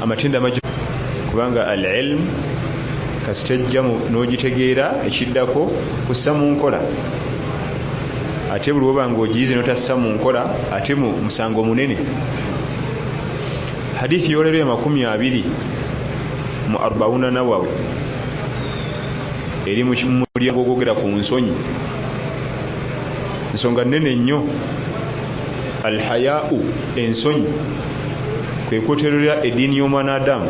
amatendo amagi kubanga al ilm kasita ejja n'ogitegeera ekiddako kussa mu nkola ate buli woba nga ogiyize notassa mu nkola ate mu musango munene hadithi yolero ya makumi abiri mu arbauna nawawi eri mu mulyango ogwogera ku nsonyi nsonga nene nnyo alhayau ensonyi kwekuterera ediini y'omwana adamu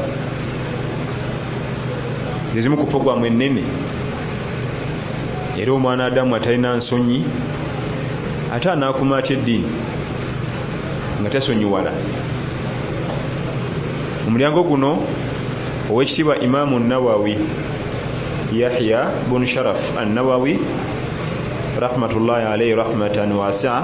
ezimu ku pogwamu ennene era omwana adamu atalina nsonyi ate anaakuma atya eddiini nga tasonyiwala omulyango guno owekitiibwa imaamu nawawi yahya bunu sharaf annawawi rahmatullahi alaihi rahmatan wasaa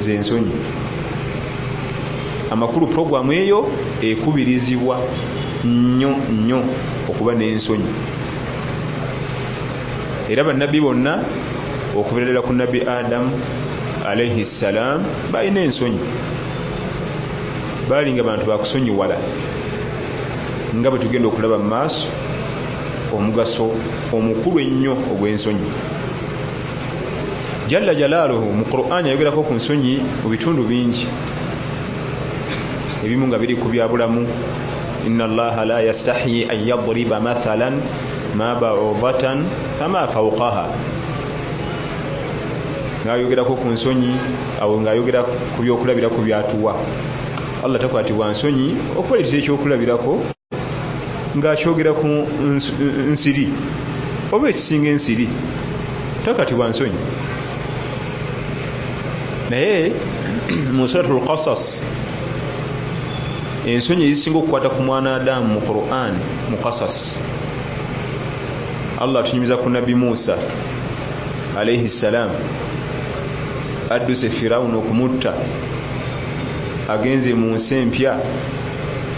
nze nsonyi amakulu puroguramu eyo ekubirizibwa nnyo nnyo okuba n'ensonyi era bannabbi bonna okubererera ku nabbi adamu alaihi ssalaamu balina ensonyi baalinga bantu bakusonyiwala nga bwe tugenda okulaba mu maaso omugaso omukulu ennyo ogw'ensonyi jalla jalaaluhu mu quran ayogerako ku nsonyi mu bitundu bingi ebimu nga biri ku byabulamu ina allaha la yastahi an yadriba mathalan ma baudatan fama faukaha ngayogerako ku nsonyi awo ngaayogera ku byokulabirako byatuwa allah takwatibwa nsonyi okubaletera ekyokulabirako ng'akyogera ku nsiri oba ekisinga ensiri takati bwa nsonyi naye mu surat lkasas ensonyi ezisinga okukwata ku mwana adamu mu quran mu kasas allah atunyumiza ku nabbi musa alaihi ssalam adduse firawuna okumutta agenze mu nsi empya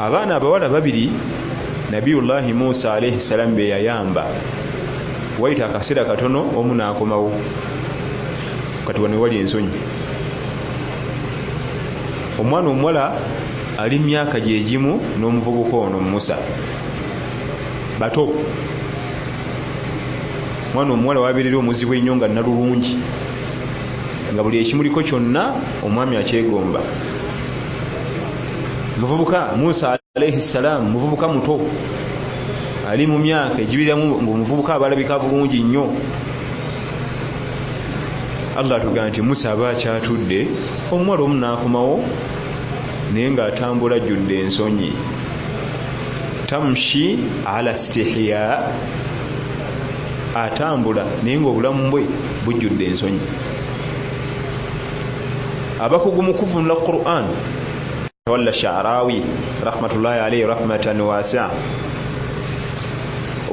abaana abawala babiri nabiyullahi musa alaihi salaamu beyayamba wayita akaseera katono omu nakomawo kati wano wali ensonyi omwana omuwala ali myaka gyegimu n'omuvubuka ono musa bato omwana omuwala wabeerera omuzibu ennyo nga nalulungi nga buli ekimuliko kyonna omwami akyegomba muvubuka musa alaihi ssalaamu muvubuka muto ali mu myaka egibiriramu ngaomuvubuka abalabika bulungi nnyo allah atugamba nti musa aba akyatudde omuwala omu naakomawo naye ngaatambula jjudde ensonyi tamshi ala stihiya atambula naye ngaobulamu bwe bujjudde ensonyi abakugu mu kuvunula quran tawalla sharawi rahmatullahi alaihi rahmatan wasia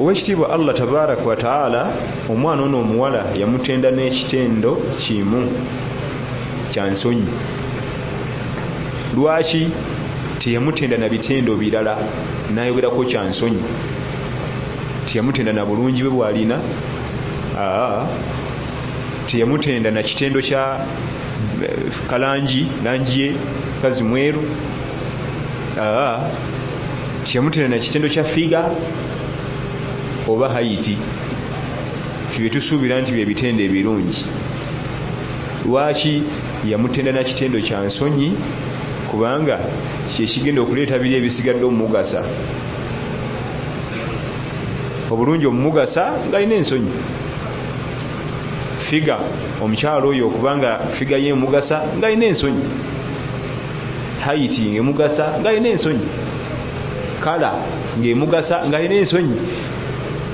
owekitiibwa allah tabaraka wataala omwana ono omuwala yamutenda n'ekitendo kimu kya nsonyi lwaki teyamutenda na bitendo birala nayogerako kya nsonyi teyamutenda na bulungi bwe bwalina teyamutenda na kitendo kya eh, kalangi langi ye kazi mweru teyamutenda na kitendo kya figa oba hayiti byetusuubira nti byebitendo ebirungi lwaki yamutenda na kitendo kya nsonyi kubanga kyekigenda okuleeta biri ebisigadde omumugasa obulungi omumugasa ngalina ensonyi figa omukyalo oyo okubanga figa ye emugasa ngalina ensonyi haiti ngemugasa ngalina ensonyi kala ngemugasa ngalina ensonyi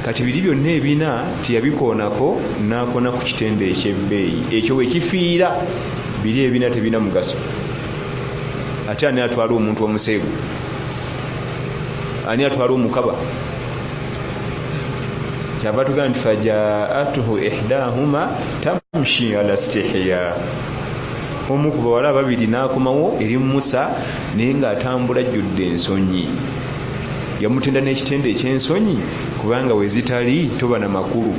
kati biri byonna ebina tiyabikoonako nakona ku kitendo ekyebbeeyi ekyo wekifiira biri ebina tebina mugaso ate ani atwala omuntu omuseegu ani atwala omukaba kyava tugamba nti fajaatuhu ihdahuma tamshi ala stihiya omu ku bawala ababiri n'akomawo eri musa naye ng'atambula ajjudde ensonyi yamutenda n'ekitendo eky'ensonyi kubanga we zitali toba na makulu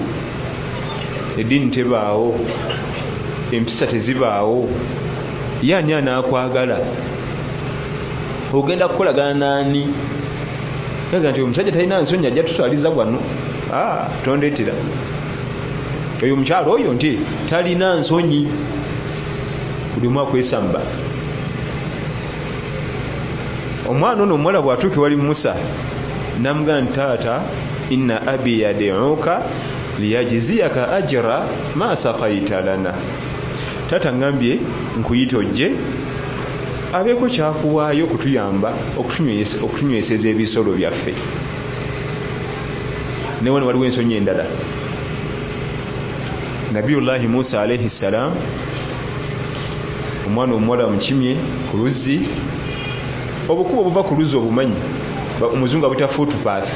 eddiini tebaawo empisa tezibaawo ye ani anaakwagala ogenda kukolagana naani aga nti omusajja talina nsonyi ajja tuswaliza wano ah, tondetera oyo omukyalo oyo nti talina nsonyi buli omu akwesamba omwana ono omuwala bwatuuka ewali musa namugamba nti taata inna abi yadiuka liyajiziyaka ajira ma sakaita lana taata ngambye nkuyita ojje abeeko kyakuwaayo okutuyamba okutunyweseza ebisolo byaffe ne wano waliwo ensonyi endala nabiyullahi musa alaihi ssalam omwana omuwala mukimye ku luzzi obukuba obuva ku luzzi obumanyi omuzungu abuta footpath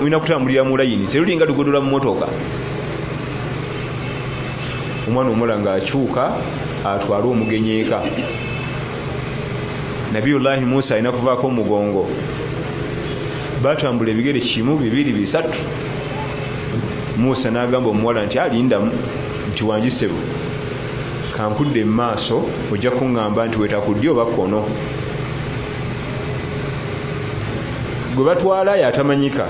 olina kutambulira mu layini terulinga lugodola mu motoka omwana omula nga akyuka atwale omugenyi eka nabiyullahi musa alina kuvaako omugongo batambula ebigere kimu bibiri bisatu musa nagamba omuwala nti alindamu nti wanjisebo kankudde mu maaso ojja kuŋŋamba nti wetakuddi oba kkono gwe batwala yatamanyika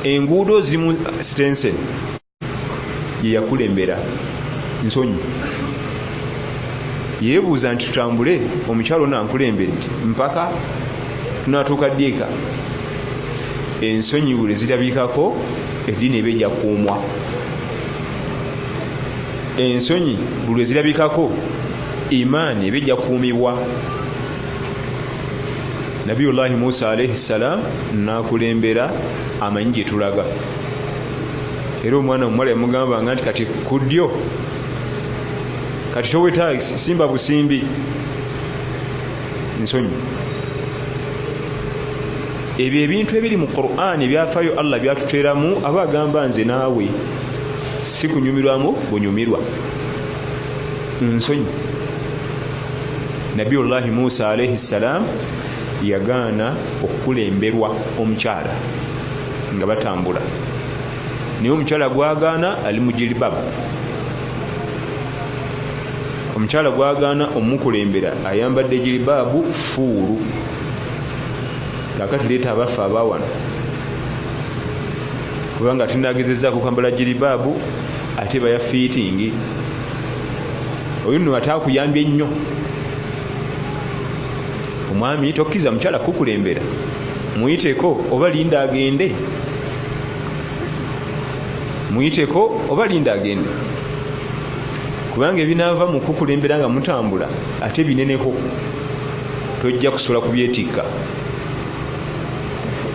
enguudo zimu stensen yeyakulembera nsonyi yebuuza nti tutambule omukyalo nankulembedde mpaka tunatuuka ddiika ensonyi buli zirabikako eddiini eba ejakuumwa ensonyi buli ezirabikako imaani eba ejakuumibwa nabiyullahi musa alaihi ssalam nakulembera amanyi gyetulaga era omwana omuwala yamugambanga nti kati ku ddyo kati towetagi simba busimbi nsonyi ebyo ebintu ebiri mu quran ebyafayo allah byatuteramu aba agamba nze naawe sikunyumirwamu bunyumirwa ensonyi nabbi ullahi musa alaihi ssalaamu yagaana okukulemberwa omukyala nga batambula naye omukyala gwagaana ali mujilibab omukyala gwagaana omukulembera ayambadde jilibaabu fuulu kakati leeta abaffe abawano kubanga tinagezezako kambala jilibaabu ate baya fiitingi oyo nno ate akuyambye nnyo omwami tokkiza mukyala kukulembera muyiteko oba linda agende muyiteko oba linda agende kubanga ebinaava mu kukulembera nga mutambula ate bineneko tojja kusobola kubyetikka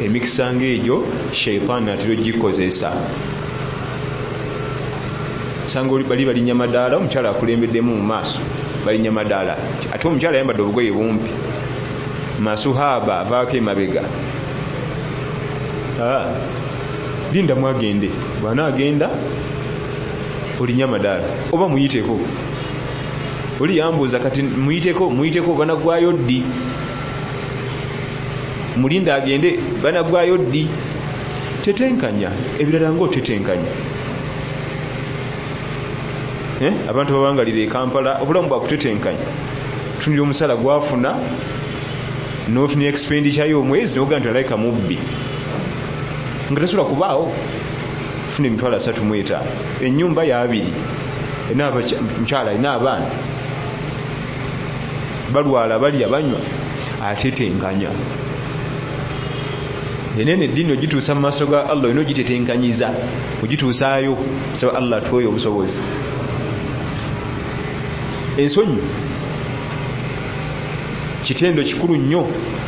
emikisa ngaegyo sheitaani atera ogikozesa osanga bali balinya madaala omukyala akulembeddemu mu maaso balinya madaala ate omukyala ayambadde obugoye bumpi masuhaaba avaako emabega ah, linda mwagende bwana agenda olinya madaala oba muyiteko oli yambuuza kati muyiteko muyiteko banagwayo ddi mulinda agende banagwayo ddi tetenkanya ebirala nga otetenkanya eh? abantu babangalira ekampala obulamu bwakutetenkanya tunira omusala gwafuna notunira expenditure yomwezi noga nti alaika mubbi nga tasobola kubaawo funa emitwalo asatu mwetaano enyumba yabiri mukyala alina abaana balwala balya banywa atetenkanya enene eddiini ogituusa mu maaso ga allah olina ogitetenkanyiza ogituusaayo saba allah atwoyo obusobozi ensonyi kitendo kikulu nnyo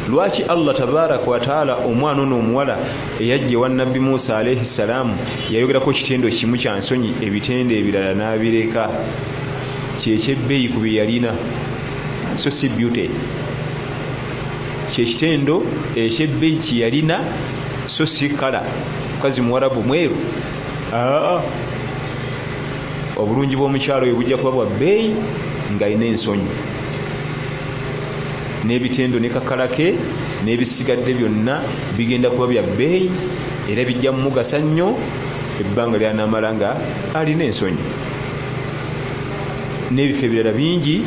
lwaki allah tabaraka wataala omwana ono omuwala eyajja ewa nabbi musa alaihi ssalaamu yayogerako kitendo kimu kya nsonyi ebitendo ebirala n'abireka kyekyebbeeyi ku bye yalina so si beauty kyekitendo ekyebbeyi kyeyalina so si kala mukazi muwarabu mweru aa obulungi bwomukyalo oyo bujja kuba bwabbeeyi ngaalina ensonyi n'ebitendo ne kakala ke n'ebisigadde byonna bigenda kuba bya bbeeyi era bijja mumugasa nnyo ebbanga lyanamala nga alina ensonyi n'ebifo ebirala bingi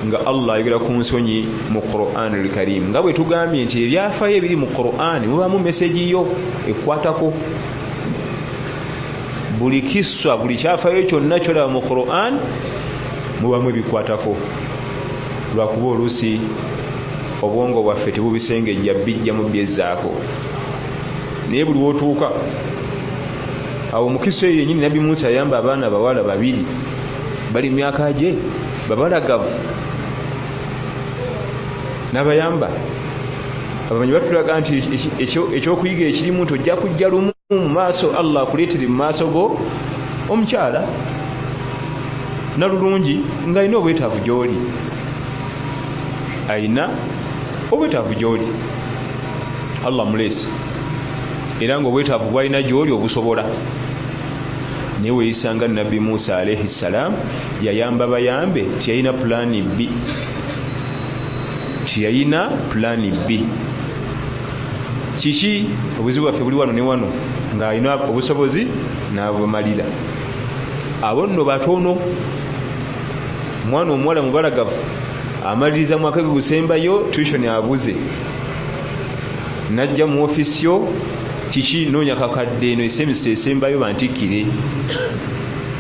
nga allah ayogera ku nsonyi mu quran lkarimu nga bwe tugambye nti ebyafayo ebiri mu quran mubamu mesegi yo ekwatako buli kiswa buli kyafayo kyonna kyolaba mu quran mubamu ebikwatako lwakuba oluusi obwongo bwaffe tebubisengejja bijjamu byezzaako naye buli wotuuka awo mukisa eyo yenyini nabbi musa yayamba abaana bawala babiri bali myaka gye babalagavu nabayamba abamanyi batulaga nti ekyokuyiga ekirimu nti ojja kujja lumu mu maaso allah akuleetere mu maaso go omukyala nalulungi ngaalina obwetaavu gyoli alina obwetaavu gyoli allah muleese era nga obwetaavu bwalina gyoli obusobola naye weyisanga nabbi musa alaihi ssalaamu yayamba bayambe tiyalina pulani bbi tiyalina pulani bbi kiki obuzibu bwaffe buli wano ne wano ng'alina obusobozi n'abumalira abo nno batono omwana omuwala mubalagavu amaliriza mwaka gwe gusembayo tuition abuze najja mu ofisi yo kiki noonya kakadde eno esemisa esembayo bantikkire